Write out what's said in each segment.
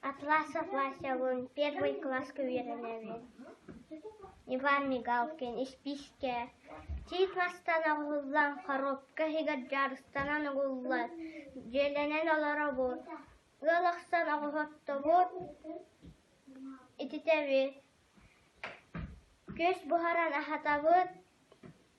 Атласов Васябын первый класска үөрэнэбин. Иван Мигалкин испиискэ сии тастан оҕуһуллан хоруопка иһигэр дьарыстанан угуллан дьиэлэнэн олоробут. Ыал ахсан оҕуһоттобут. Ититэбит. Күөс буһаран аһатабыт.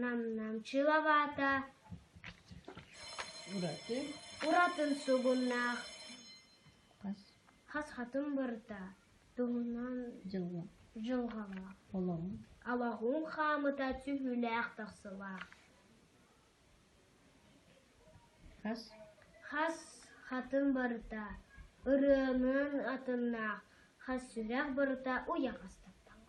Нам-Нам чыылабаата уратын сугуннаах хас хатым барыта туһунан дьылҕалаах алаһуҥ хаамыта түһүүлээх тахсылаах хас хатым барыта ырыанын атыннаах хас сүрэх барыта уйа хастаттаҕа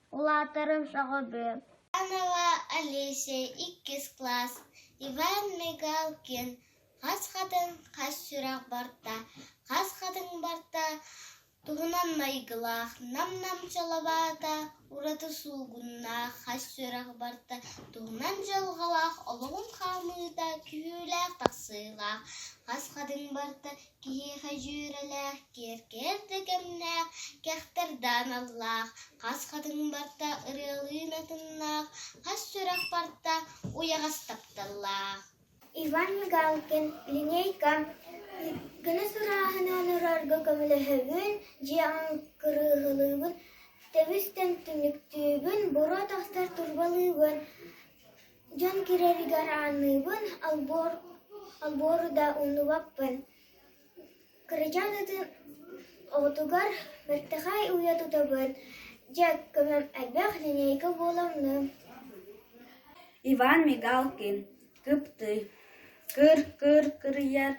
Улаатарым сөҕөбү Олеся иккис класс Иван Мигалкин хас хатыҥ хас сүрэх барта хас хатыҥ барта туһунан майгылаах нам-нам чалабаата ураты суугуннаах хас сүрэх барта туһунан дьылҕалаах олоҕун хаамыыта күүһүүлээх тахсыылаах хас хатыҥ барта Киһиэхэ дьүөрэлээх, киэркээн да кэмнээх, кэхтэрдээн аллаах, хас хатыҥ барта ырыалыын атыннаах, хас сүрэх барта уйаҕас тапталлаах. Иван Мигалкин линейка гыныс ырааһын онорорго көмөлөһөбүн, дьиэ кырыыһылыыбын, тэбис тэмтимиктүүбүн, буруо тахсар турбалыыбын Дьон киирэригэр аанныыбын, албору да умнубаппын, кырачаан оҕотугар бэртэхэй уйа тутабын, дьэ көмөм элбэх, линейка буола онно Иван Мигалкин кыптый, кыр-кыр кырыйар,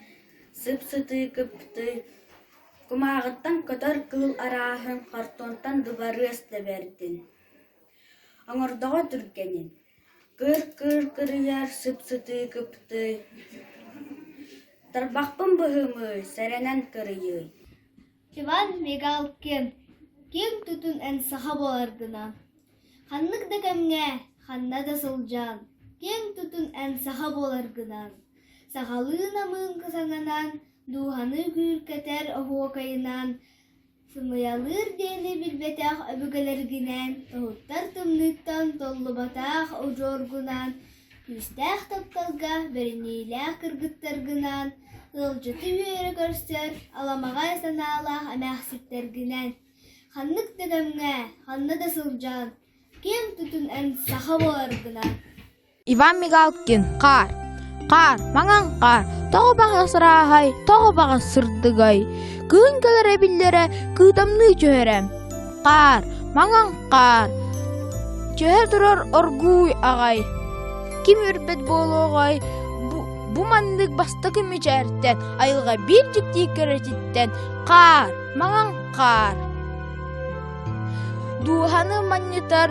сып-сытыы кыптый, кумааҕыттан көтөр кыыл арааһын хортуонтан дыбарыас да бэрдин Оҥордоҕо түргэнин, кыыр-кыыр кырыйар, сып-сытыы кыптыы, тарбахпын быһымыы, сэрэнэн кырыйыы Иван Мигалкин ким тутун эн саха буоларгынан, ханнык да кэмҥэ, ханна да сылдьан, ким тутун эн саха буоларгынан, сахалыы намыынка саҥанан, дууһаны күүркэтэр оһуокайынан Сымыйалыыр диэни билбэтэх өбүгэлэргинээн тоһуттар тымныыттан толлубатах удьуоргунаан, күүстээх тапталга бэриниилээх кыргыттаргынаан, ыалдьыты үөрэ көрсөр аламаҕай санаалаах эмээхситтэргинээн, ханнык да кэмҥэ, ханна да сылдьан, киэҥ тутун эн саха буоларгынан Иван Мигалкин хаар Хаар, маҥан хаар, тоҕо баҕа сырааһай, тоҕо баҕа сырдыгай, кыһын кэлэрэ биллэрэ, кыытамныы түһэрэ. Хаар, маҥан хаар, түһэ турар оргууй аҕай. Ким үрбэт буолуоҕай, бу, бу маннык бастакы мичээртэн, айылҕа биир дьиктии кэрэтиттэн хаар, маҥан хаар. Дууһаны манньытар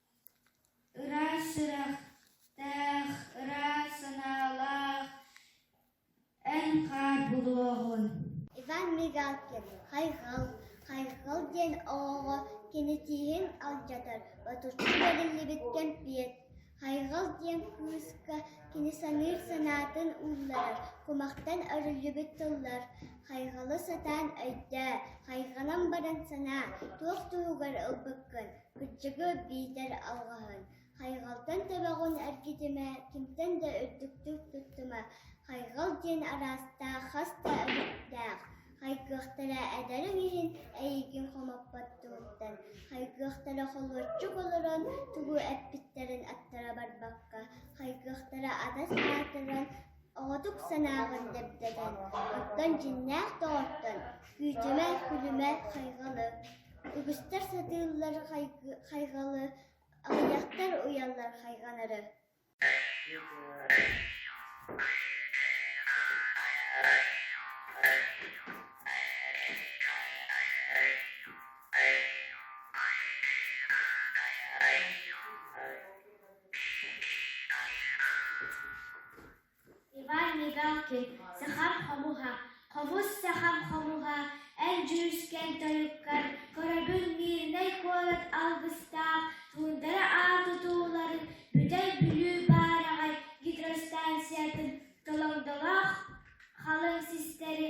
Ыраас сүрэхтээх, ыраас санаалаах эн-хаар булуоҕун Хайҕал диэн оҕоҕо кинитиһин алдьатар ботуччу бэриллибит кэмпиэт Хайҕал диэн кыыска кини саныыр санаатын уулларар, кумахтан өрүллүбүт тыллар Хайҕалы сатаан өйдөө, хайҕанан баран санаа, туох туһугар ылбыккын Кыччыгыт диэтэр алҕаһын, хайҕалтан төбөҕүн эргитимэ, кимтэн да үрдүктүк туттума, хайҕал диэн араастаах хас да өлүктээх, хайгыахтара эдэриҥ иһин эйигин хомоппот туһуттан, хайгыахтара холуочук олорон тугу эппиттэрин аттара барбакка, хайгыахтара адас аатыран Оҕотук санааҕын дэптэтэн, Оккон дьиҥнээх доҕоттон, Күүтүмэ, күлүмэ, хайҕалы, Үгүстэр сатыыллар хайҕалы, Аҕыйахтар уйаллар хайҕанары Иван Мигалкин Сахам хомуһа Хомус сахам хомуһа Эн дьүрүскэн тойуккар Көрөбүн Мирнэй куорат алгыстаах Туундара аан тутууларын Бүтэй Бүлүү баараҕай гидростанциятын Толоҥдолоох халыҥ систэри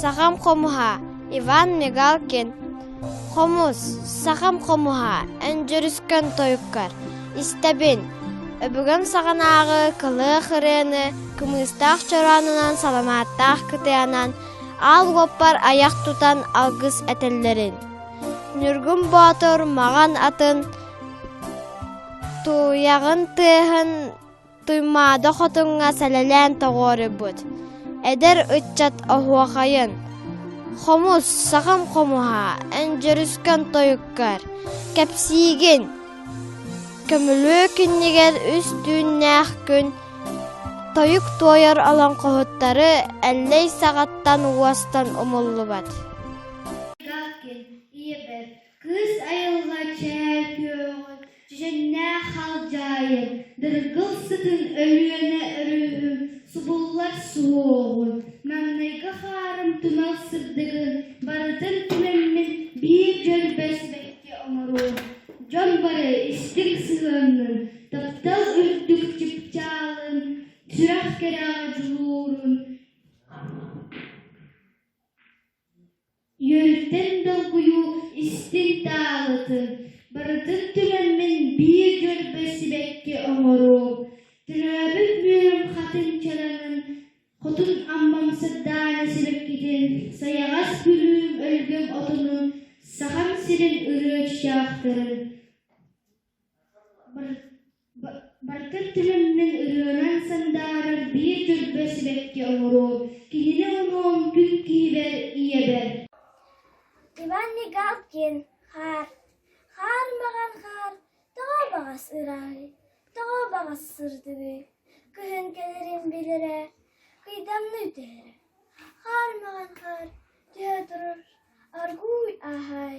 Сахам хомуһа Иван Мигалкин Хомус сахам хомуһа Өндөрүскэн тойуккар Истэбин Өбүгэм саҕанааҕы кылыах ырыаны кымыыстаах чороонунан саламааттаах кытыанан аал уоппар айах тутан алгыс этэллэрин Ньургун Боотур маҕан атын тууйаҕын тыаһын Туймаада хотуҥҥа сэлэлээн тоҕуоруйбут эдэр ыччат оһуохайын хомус, сахам хомуһа, эндьэрискэн тойуккар, кэпсиигин көмүлүөк иннигэр үс түүннээх күн тойук туойар олоҥхоһуттары Эллэй саҕаттан уостан умуллубат Кыыс айылҕа чээл күөҕүн, чэчэннээх халдьаайын, дыргыл сытын Өлүөнэ өрүһүн субуллар суоҕун, маҥнайгы хаарым тумал сырдыгын барытын түмэммин биир дьөрбөс бэккэ оҥоруом, дьон бары истиҥ сыһыаннын, таптал үрдүк чыпчаалын, сүрэх кэрэҕэ дьулуурун Үөрүттэн долгуйуу истиҥ таалытын барытын түмэммин биир дьөрбө сибэкки оҥоруум, төрөөбүт мүөлүм хатыҥ чараҥын, хотун аммам сырдаана сибэккитин, сайаҕас күлүүм өлгөм отунун, Сахам сирин ырыа чаахтарын Барытын төлөммүн ырыанан сандаарар биир түрбэ сибэкки оҥоруом, киһини уҥуом күн киһибэр ийэбэр Иван Негалкин хаар, хаар маҕан хаар, тоҕо баҕас ыраҕый, тоҕо баҕас сырдыгый, кыһын кэлэрин билэрэ, кыйдамныы түһэрэ. Хаар маҕан хаар түһэ турар, аргууй аһаай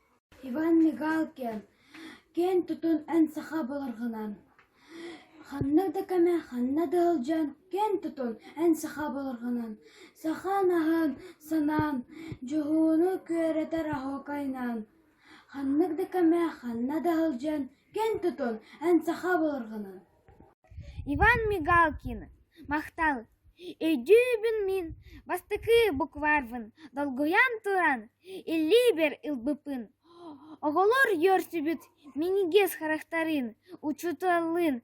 Иван Мигалкин киэн тутун эн саха былыргынан ханнык да кэмэ, ханна да ыалдьан киэн тутун эн саха былыргынан сахаан аһын, санаан, дьуһууну күөрэтэр оһуокайынан ханнык да кэмэ, ханна да ыалдьан киэн тутун эн саха былыргынан Иван Мигалкин махтал өйдүүбүн мин бастакы букварбын долгуйан туран илиибэр ылбыппын оҕолор үөрсүбүт минньигэс харахтарын учууталлыын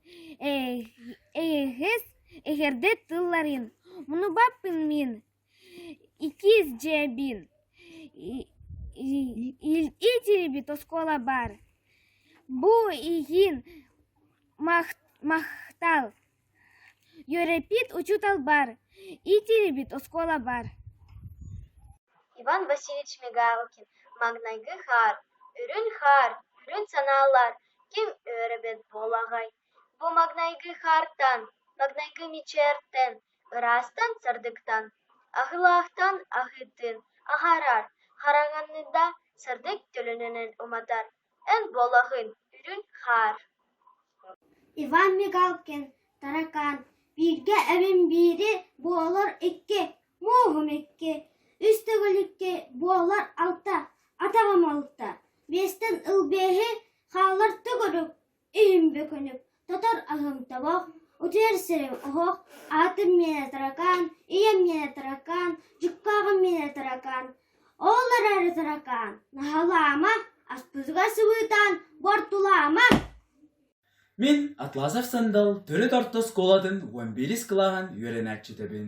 эһэс эһэрдэ тылларын муннубаппын мин Иккис дьиэбин илдьибит оскуола баар, бу иһин махтал. Үөрэппит учуутал баар, иитиллибит оскуола баар Иван Васильевич Мигалкин маҥнайгы хаар, үрүн хаар, үрүн санаалар ким үөрэбит буолаҕай? Бу маҥнайгы хаартан, маҥнайгы мичээртэн Ыраастан сырдыктан, аһыылаахтан аһыытын аһарар, хараҥанныда сырдык төлөнүнэн уматар, эн буолаҕын үрүҥ хаар Иван Мигалкин Таракаан бииргэ эбим биири буолар икки, мууһум икки, үс төгүл икки буолар алта, атаҕым алта, биэстэн ыл биэһи хаалар төгүрүк иһим бөкүнүк, тотор аһым тобох, утуйар сирим оһох, аатым миэнэ таракаан, ийэм миэнэ таракаан, дьуккааҕым миэнэ таракаан. Ооллор эрэ таракаан, наһалаама, аспытыгар сыбыытаан, бортулаама. Мин Атласов Сандал төрүт орто оскуолатын уон биирис кылааһын үөрэнээччитэбин.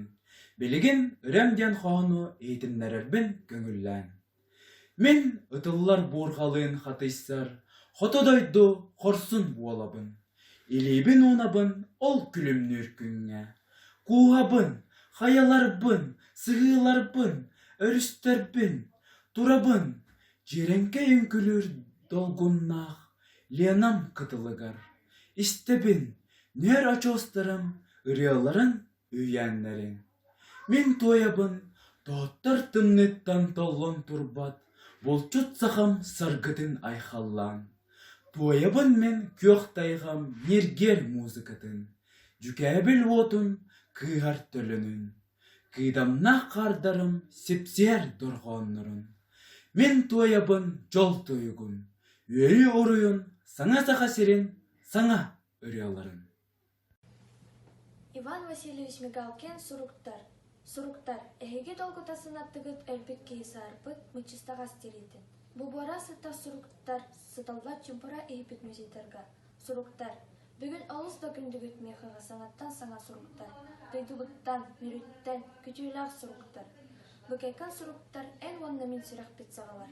Билигин Үрэм диэн хоһону иһитиннэрэрбин көҥүллээн. Мин ытыллар буурҕалыын хатыйсар хоту дойду хорсун буолабын, илиибин-уунабын ол күлүмнүүр күҥҥэ, кууһабын, хайаларбын, сыһыыларбын, өрүстэрбин, турабын дьиэрэҥкэй үҥкүүлүүр долгуннаах Ленам кытылыгар, истэбин ньүөр очуостарым ырыаларын Үһээннэриҥ, мин туойабын Тооттор тымныыттан толлон турбат Булчут сахам саргытын айхаллаан. Туойабын мин күөх тайҕам ньиргиэр музыкатын, Дьүкээбил уотун кыыһар төлөнүн. Кыыдамнаах хаардарым сипсиэр дорҕооннорун. Мин туойабын дьол туйугун, Үөйүү уруйун саҥа саха сирин саҥа ырыаларын. Иван Васильевич Мигалкин «Суруктар, суруктар, эһиги долгутасын аттыгыт өлбүт киһи саарбыт Мыччыстаҕас» тириитин, бубуора сыттар суруктар сыталлар чумпура иһиппит музейдарга «Суруктар, бүгүн олус да күндүгүт Миэхэҕэ саҥаттан саҥа суруктар, дойдубуттан, мүрүттэн күтүөлээх суруктар, Быкайкан суруктар эн уонна мин сүрэхпит саҕалар»